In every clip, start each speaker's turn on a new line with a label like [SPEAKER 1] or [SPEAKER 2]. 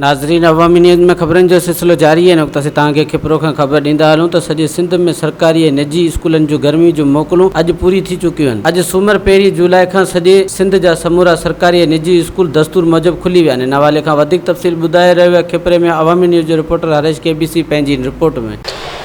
[SPEAKER 1] ناظرين عوامي نيوز ۾ خبرن جو سلسلو جاري آهي ان وقت اسين توهان کي کپرو کان خبر ڏيندا هلون ته سڄي سنڌ ۾ سرڪاري ۽ نجي اسڪولن جون گرمي جون موڪلون اڄ پوري ٿي چڪيون آهن اڄ سومر پهرين جولاء کان سڄي سنڌ جا سمورا سرڪاري ۽ نجي اسڪول دستور موجب کلي ويا آهن ان حوالي کان وڌيڪ تفصيل ٻڌائي رهيو آهي کپري ۾ عوامي نيوز جو رپورٽر هريش ڪي بي سي پنهنجي ان رپورٽ ۾.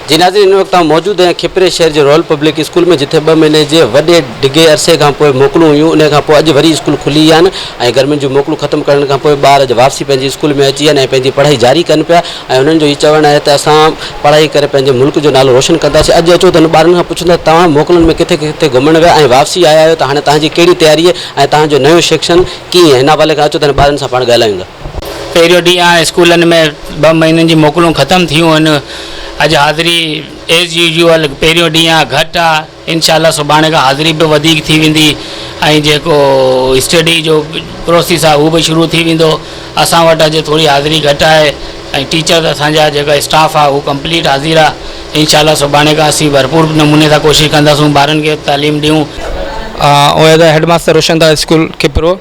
[SPEAKER 1] جي ناظرين ان وقت آئون موجود آهيان کپري شهر جي رائل پبلڪ اسڪول ۾ جٿي ٻه مهيني جي وڏي ڊگهي عرصي کان پوء موڪلون هيون انهي کان پوء اڄ وري اسڪول کلي آهن ۽ گرمين جون موڪلون ختم ڪرڻ کان پوء ٻار اڄ واپسي پنهنجي اسڪول ۾ اچي آهن ۽ پنهنجي پڙهائي جاري ڪن پيا ۽ انهن جو هي چوڻ آهي ته اسان پڙهائي ڪري پنهنجي ملڪ جو نالو روشن ڪنداسين اڄ اچو ته انهن ٻارن کان پڇون ٿا توهان موڪلن ۾ ڪٿي ڪٿي گهمڻ ويا ۽ واپسي آيا آهيو ته هاڻي توهان جي ڪهڙي تياري ۽ توهان جو نيون سيڪشن ڪيئن هن حوالي کان اچو ته انهن ٻارن سان پاڻ ڳالهايون ٿا. پهريون ڏينهن آهي
[SPEAKER 2] اسڪولن ۾ ٻه مهينن جي موڪلون ختم ٿيون آهن اڄ حاضري ايز يوزيول پهريون ڏينهن آهي گهٽ آهي انشاء الله سڀاڻي کان حاضري به وڌيڪ ٿي ويندي ۽ جيڪو اسٽڊي جو پروسيس آهي هو به شروع ٿي ويندو اسان وٽ اڄ ٿوري حاضري گهٽ آهي ۽ ٽيچر اسانجا جيڪا اسٽاف آهي هو ڪمپليٽ حاضر آهي انشاء الله سڀاڻي کان اسين ڀرپور نموني سان ڪوشش ڪنداسون ٻارن کي تعليم ڏيون آئون as
[SPEAKER 3] a headmaster Roshan Das school Khipro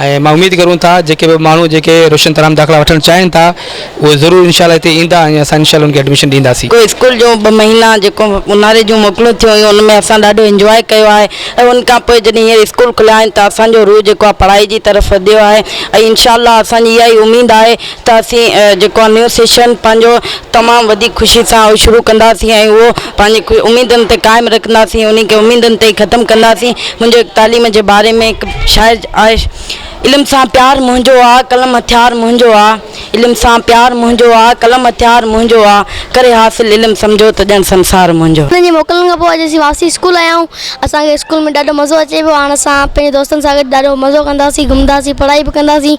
[SPEAKER 3] ۽ مان اميد ڪريون ٿا جيڪي به ماڻهو جيڪي روشن تارا ۾ داخلا وٺڻ چاهين ٿا اهي ضرور انشاء الله هتي ايندا ۽ اسان انشاء الله انهن کي ايڊميشن ڏينداسين. جو اسڪول جون ٻه مهينا
[SPEAKER 4] جيڪو اونهاري جون موڪلون ٿيون هيون ان ۾ اسان ڏاڍو انجواء ڪيو آهي ۽ ان کان پوء جڏهن هينئر اسڪول کليا آهن ته اسان جو روح جيڪو آهي پڙهائي جي طرف وڌيو آهي ۽ انشاء الله اسان جي اها ئي اميد آهي ته اسين جيڪو آهي نيو سيشن پنهنجو تمام وڌيڪ خوشي سان اهو شروع ڪنداسين ۽ اهو پنهنجي اميدن تي قائم رکنداسين انهي کي اميدن تي ئي ختم ڪنداسين منهنجو هڪ تعليم جي باري ۾ هڪ شاعر آهي علم سان پيار منهنجو آ قلم هٿيار منهنجو آ علم سان پيار منهنجو آ قلم هٿيار منهنجو آ ڪري حاصل علم سمجهو ته ڄڻ سنسار منهنجو. اسڪول جي موڪلن کان پوء اڄ
[SPEAKER 5] اسين واپسي اسڪول آيا آهيون اسان کي اسڪول ۾ ڏاڍو مزو اچي پيو هاڻ اسان پنهنجي دوستن سان گڏ ڏاڍو مزو ڪنداسين گهمنداسين پڙهائي به ڪنداسين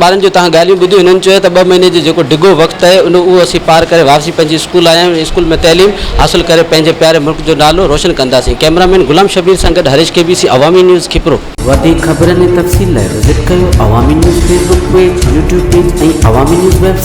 [SPEAKER 3] ٻارن جون تهان ڳالهيون
[SPEAKER 1] ٻڌيون هنن چيو ته ٻه مهيني جو جيڪو ڊگهو وقت اهي ان اهو اسين پار ڪري واپسي پنهنجي اسڪول آيا آهيون اسڪول ۾ تعليم حاصل ڪري پنهنجي پياري ملڪ جو نالو روشن ڪنداسين ڪئميرا مين غلام شبير سان گڏ هريش ڪي بي سي عوامي نيوز کپرو. وڌيڪ خبرن ۽ تفصيل لاء وزٽ ڪيو Awami news Facebook page, YouTube page ۽ Awami news web site.